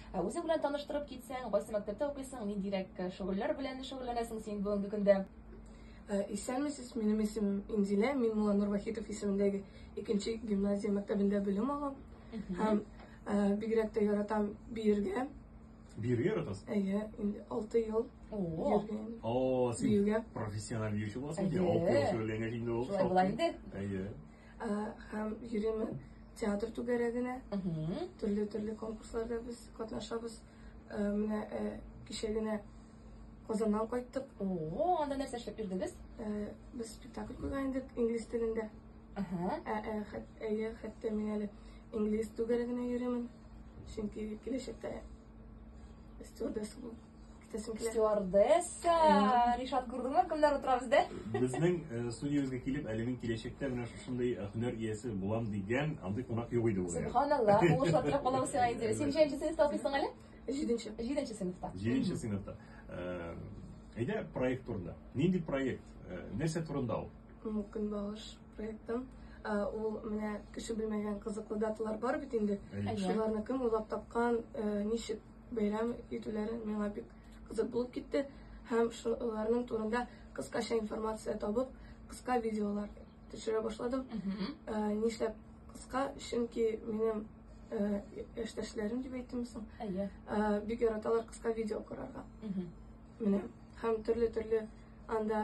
Ә үзе белән таныштырып китсәң, кайсы мәктәптә укыйсың, ниндирәк э, шөгыльләр белән шөгыльләнәсең син бүгенге көндә? Э, исәнмесез, минем исемем Инзилә, мин Муланур Вахитов исемендәге икенче гимназия мәктәбендә белем алам. Һәм э, бигрәк тә яратам биергә. Биергә яратасыз? Әйе, инде 6 ел. О, О, син профессиональ биюче буласың. Әйе. Алты ел шөгыльләнгәч инде ул. Шулай була инде. Әйе. Һәм йөрим театр түгәрәгенә. Төрле-төрле конкурсларда без катнашабыз. Менә кичә генә Казаннан кайттык. О, анда нәрсә эшләп йөрдегез? Без спектакль куйган идек инглиз телендә. Әйе, хәтта мин әле инглиз түгәрәгенә йөримен. Чөнки киләчәктә стюардесса булып Итәсем килә. Стюардесса. Ришат күрдеңме, кемнәр утыра бездә? Безнең э, студиябезгә килеп, әле мин киләчәктә менә шушындый э, һөнәр иясе булам дигән андый кунак юк иде ул. Субханалла, уңышлар теләп калам сиңа инде. Син ничәнче сыйныфта укыйсың әле? Җиденче. Җиденче сыйныфта. Җиденче сыйныфта. Э, Әйдә проект турында. Нинди проект? Э, Нәрсә турында ул? М, Көнбагыш проектым. Ә, Ул менә кеше белмәгән кызыклы даталар бар бит инде. Әйе. Шуларны кем уйлап тапкан, ә, ничек бәйрәм итүләре миңа бик кызык булып китте һәм шуларның турында кыскача информация табып, кыска видеолар төшерә башладым. Ә, нишләп кыска? Чөнки минем ә, яшьтәшләрем дип әйтимсең, Әйе. ә, бик яраталар кыска видео карарга. Мгм. Менә һәм төрле-төрле анда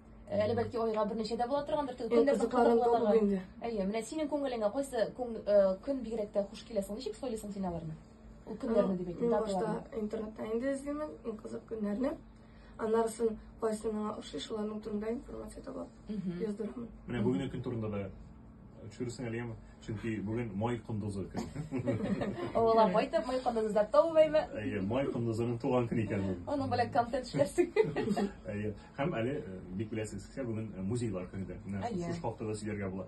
Әле бәлки айга берничә дә була торгандыр. Көннәр кызыклы. Әйе, менә синең күңелеңә кайсы көн көн бигрәк тә хуш килә соң? Ничек сойлыйсың син аларны? Ул көннәрне дип әйтәм. Башта интернетта инде эзлимен, иң кызык көннәрне. Аннарысын кайсы миңа ошый, шуларның турында информация таба, яздырамын. Менә бүгенге көн турында да Төшересең әле яме. Чөнки бүген май кондызы көн. Ул апай да май кондызы да томыймы? Әйе, май кондызының туган көне икән ул. Аның белән контент эшләрсең. Әйе. Һәм әле э, бик беләсез, бүгін э, музейлар көне дә. Менә шушы хакта да сөйләргә була.